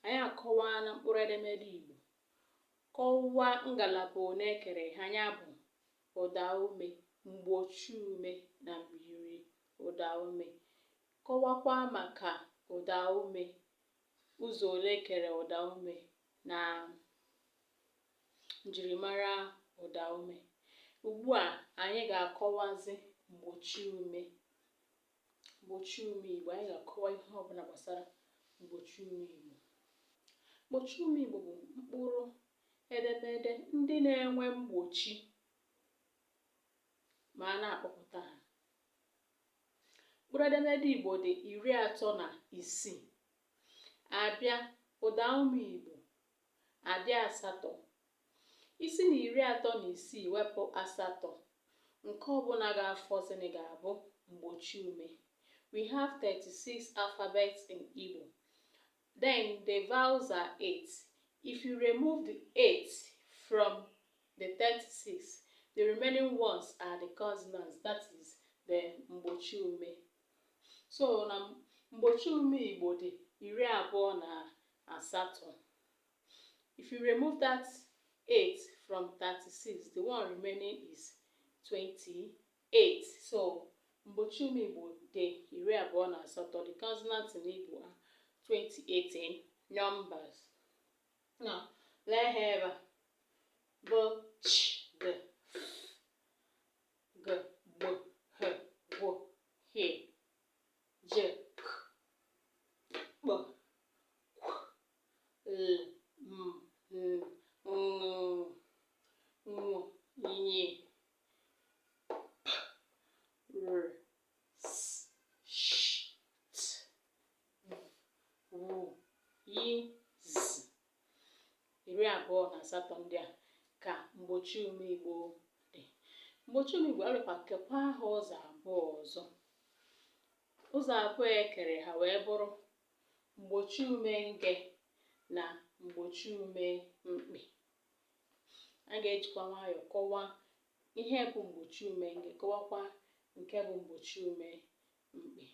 Anyị akọwaana mkpụrụ edemede Igbo. Kọwaa ngalaba one e kere ha, ya bụ, ụdaume, mgbochiume na myiri ụdaume. Kọwakwaa maka ụdaume, ụzọ ole e kere ụdaume na njirimara ụdaume. Ugbu a, anyị ga-akọwazi mgbochiume. mgbochi ume Igbo anyị ga-akọwa ihe ọbụla gbasara mgbochi ume Igbo mgbochi ume Igbo bụ mkpụrụ edemede ndị na-enwe mgbochi ma a na-akpọpụta ha mkpụrụ edemede Igbo dị iri atọ na isii a bịa ụda ume Igbo adị asatọ I si n'iri atọ na isii wepụ asatọ, nke ọ bụla ga-afọzịnị ga-abụ mgbochiume. We have thirty six alphabets in Igbo. Then the vowels are eight. If you remove the eight from the thirty six, the remaining ones are the consonants, that is the mgbochiume. So na mgbochiume Igbo dị iri abụọ na asatọ. If you remove that 8 from 36, the one remaining is 28. So, mgbochi ume Igbo dị iri abụọ na asatọ. The consonant in Igbo are 28 in numbers. Now, lee ha ebe a. B, ch, d, g, gb, gh, gw, h, j, iri abụọ na asatọ ndị a ka mgbochi ume igbo dị mgbochi ume igbo arịkwa kekwaa ha ụzọ abụọ ọzọ ụzọ abụọ e kere ha wee bụrụ mgbochi ume nge na mgbochi ume mkpị a ga-ejikwa nwayọọ kọwaa ihe bụ mgbochi ume nge kọwakwa nke bụ mgbochi ume mkpị